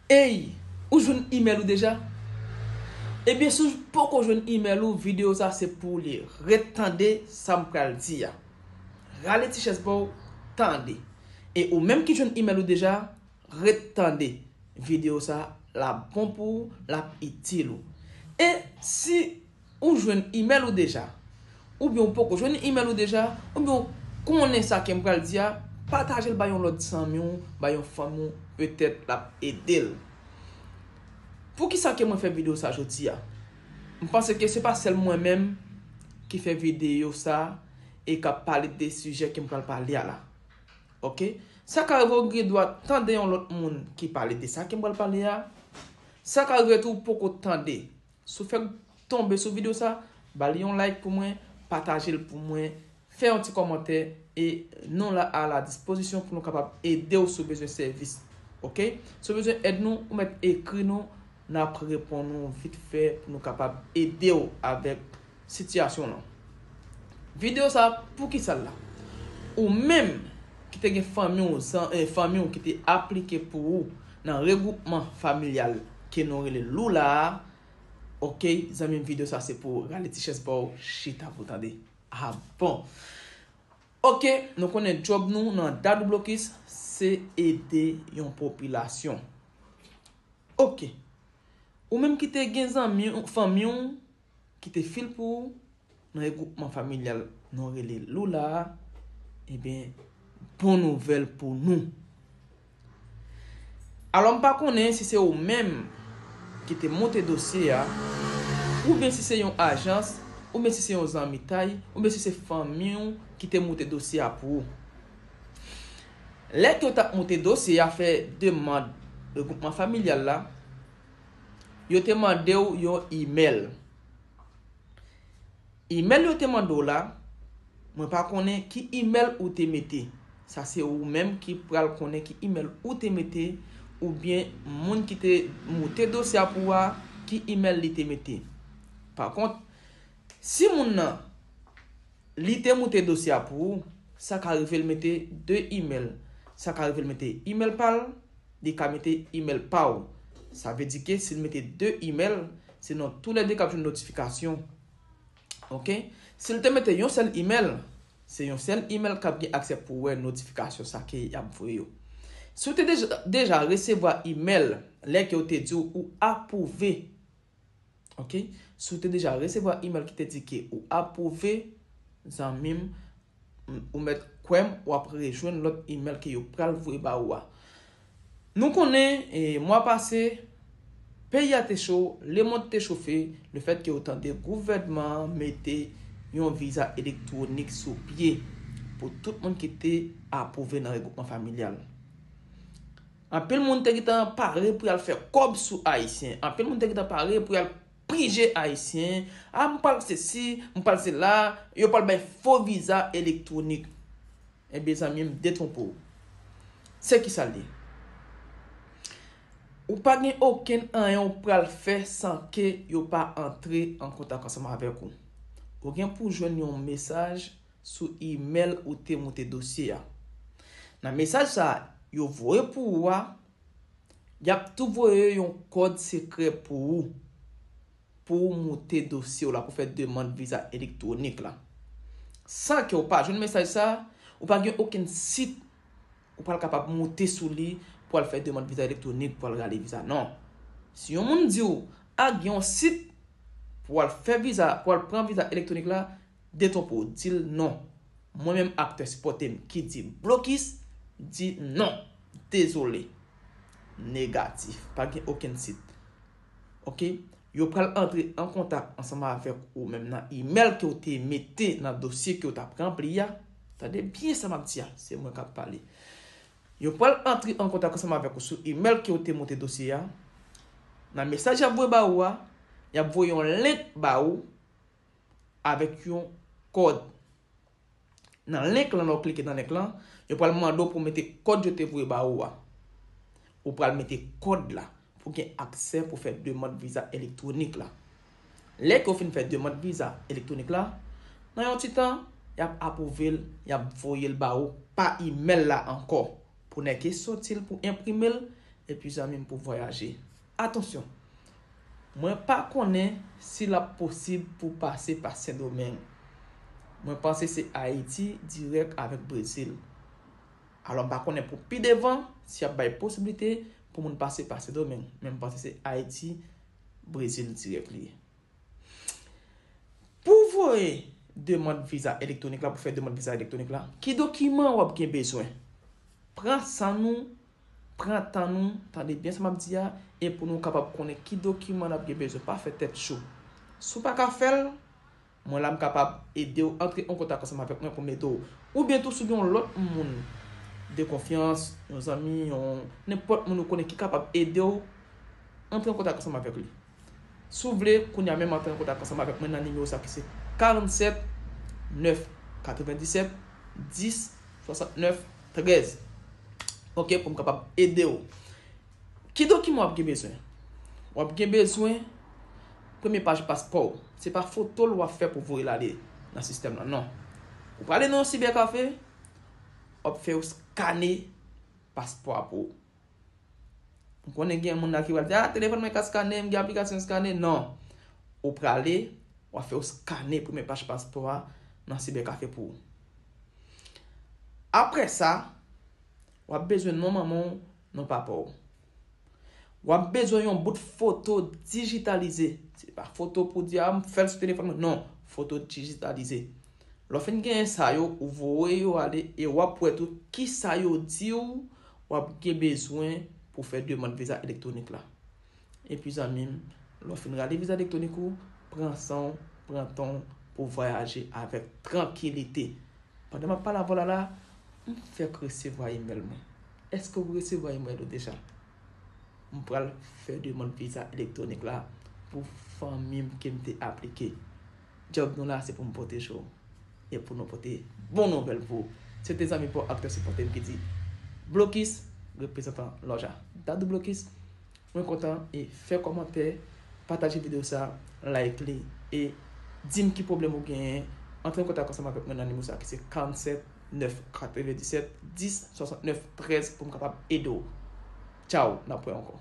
Eyy ou jwenn email ou deja? Ebyen si w poko jwenn email ou video sa se pou w li ret tande sa m pral di a rale ti chèz pa w tande e ou menm ki jwenn email ou deja ret tande video sa lap bon pou w lap itil ou e si Ou jwenn imèl ou deja? Oubyen ou poko jwenn imèl ou deja? Oubyen ou konnen sa kem pral di a? Patajel bay yon lòt zanmi w, bay yon fanmi w petèt lap edel. Poukisa ke mwen fè video sa jodi a? M panse ke se pa sèl mwen menm ki fè video sa e kap pale de sijè kem pral pale a la. Ok. Sa ka rive ou gen dwa tande yon lòt moun ki pale de sa kem pral pale a. Sa ka rive tou ou poko tande. Si w fèk tonbe sou video sa, ba li yon like pou mwen, pataje l pou mwen, fè yon ti kòmantè e nou la a la dispozisyon pou nou kapab ede w si w bezwen sèvis. Ok. Si w bezwen èd nou, ou mèt ekri nou, n ap reponn ou vit fè pou nou kapab ede w avèk Sitiyasyon lan. Video sa poukisal la. Ou menm ki te gen fanmi w zan e fanmi w ki te aplike pou ou nan regwoupman familyal ke nou rele Lula a ok zanmi m video sa se pou ou rale ti chèz pa w chita pou w tande a bon ok nou konnen djòb nou nan Dadou Blokis se ede yon popilasyon ok ou menm ki te gen zanmi fanmi w kite fil pou ou nan regwoupman familyal nou rele Lula a, eben bon nouvèl pou nou. Alò m pa konnen si se ou menm ki te monte dosye a, oubyen si se yon ajans, oubyen si se yon zanmitay, oubyen si se fanmi ou ki te monte dosye a pou ou. Lè ke yo t ap monte dosye a fè demand regwoupman familyal la, Yo te mande w yon imèl. Imèl yo te mande w la, mwen pa konnen ki imèl ou te mete. Sa se ou menm ki pral konnen ki imèl ou te mete oubyen moun ki te moute dosye a pou ou a ki imèl li te mete. Pa kont, si moun nan Li te moute dosye a pou ou, sa ka rive l mete 2 email, sa ka rive l mete email pa l, li ka mete email pa ou. Sa vle di ke si l mete 2 email, se nou tou le 2 k ap jwenn notifikasyon. Ok. Si l te mete yon sèl email, se yon sèl email k ap gen aksè pou wè notifikasyon sa ke y ap voye yo. Si w te deja resevwa email lè ke yo te di w ou apwouve Ok, si w te deja resevwa email ki te di ke ou apwouve, zanmi m, ou mèt kwè m, w ap rejwenn lòt email ke yo pral voye ba ou a. Nou konnen, mwa pase, peyi a te cho, lemond te chofe, le fèt ke ou tande gouvènman an mete yon viza elektwonik sou pye pou tout moun ki te apwouve nan regwoupman familyal. Anpil moun te gentan pare pou yal fè kòb sou ayisyen, anpil moun te gentan pare pou yal prije ayisyen, ah m pral se si, m pral se la, yo pral bay fo viza elektwonik. Ebyen zanmi m detwonpe w. Se kisa l ye? Ou pa gen okenn anyen ou pral fè san ke yo pa antre an kontak ansanm avèk ou. Ou gen pou jwenn yon mesaj sou imèl ou te moute dosye a. Nan mesaj sa a yo voye pou ou a, y ap tou voye yon kòd sekrè pou ou, pou ou moute dosye w la pou fè demand viza elektwonik la. San ke ou pa jwenn mesaj sa a, ou pa gen okenn sit ou pral kapab moute sou li pou al fè demand viza elektwonik pou al rale viza non. Si yon moun di ou, ah gen yon sit pou al fè viza, pou al pran viza elektwonik la, Detopo dil non mwen menm aktè sipòtem ki di blokis di non dezole negatif pa gen okenn sit ok yo pral antre an kontak ansanm avèk ou menm nan imèl kew te mete nan dosye kew tap ranpli a tande byen sa map di a se mwen kap pale yo pral antre an kontak ansanm avèk ou sou imèl kew te moute dosye a nan mesaj yap voye ba ou a yap voye yon link ba ou avèk yon kòd nan link lan lè w klike nan link lan yo pral mande w pou w mete kòd yo te voye ba ou a ou pral mete kòd la pou gen aksè pou fè demand viza elektwonik la lè ke w fin fè demand viza elektwonik la nan yon ti tan yap apwouve l yap voye l ba ou pa imèl la ankò pou nèke soti l pou enprime l epi zanmi m pou vwayaje. Atansyon! Mwen pa konnen si l ap posib pou pase pa Sendomeng. Mwen panse se Ayiti dirèk avèk Brezil. Alò m pa konnen pou pi devan si y ap bay posiblite pou moun pase pa Sendomeng. Men m panse se Ayiti, Brezil dirèk li ye. Pou w voye demand viza elektwonik la, pou w fè demand viza elektwonik la, ki dokiman w ap gen bezwen? Pran san nou Pran tan nou, tande byen sa m ap di a, e pou nou kapab konnen ki dokiman n ap gen bezwen. Pa fè tèt cho. Si w pa ka fè l, mwen la m kapab ede w. Antre an kontak ansanm avèk mwen pou m ede w. Oubyen tou si w gen yon lòt moun de konfyans, yon zanmi, yon nenpòt moun ou konnen ki kapab ede w, antre an kontak ansanm avèk li. Si w vle, kounye a menm antre an kontak ansanm avèk mwen nan nimewo sa ki se 47 9 97 10 69 13 ok pou m kapab ede w. Ki dokiman w ap gen bezwen? W ap gen bezwen premye paj paspò w. Se pa foto l w ap fè pou w voye l ale nan sistèm lan non. Ou prale nan yon sibèkafe, w ap fè yo skane paspò a pou ou. M konnen gen moun la ki pral di, ah telefòn mwen ka skannen, m gen aplikasyon skannen. Non. Ou prale, w a fè yon skannen premye paj paspò a nan sibèkafe pou ou. Apre sa, w ap bezwen non manman w, non papa w. W ap bezwen yon bout foto dijitalize. Se pa foto pou di, ah m fè l sou telefòn mwen. Non. Foto dijitalize. Lè w fin genyen sa yo, ou voye yo ale e w ap wè tou kisa yo di w w ap gen bezwen pou w fè demand viza elektwonik la. Epi zanmi m, lè w fin rale viza elektwonik ou, pran san w, pran tan w pou w vwayaje avèk trankilite. Pandan m ap pale avè w la la, m fèk resevwa imèl mwen. Èske w resevwa imèl ou deja? M pral fè demand viza elektwonik la pou fanmi m ke m te aplike. Job nou la se pou m pwoteje w e pou nou pote bon nouvèl pou ou. Se te zanmi paw ak te sipòte m ki di Blokis, reprezantan Lòja Dadou Blokis. Mwen kontan e fè kòmantè, pataje video sa, like li e di m ki pwoblèm ou genyen. Antre an kontak ansanm avèk mwen nan nimewo sa ki se 47 997 10 69 13 pou m kapab ede w. Tchao, nan pwen ankò.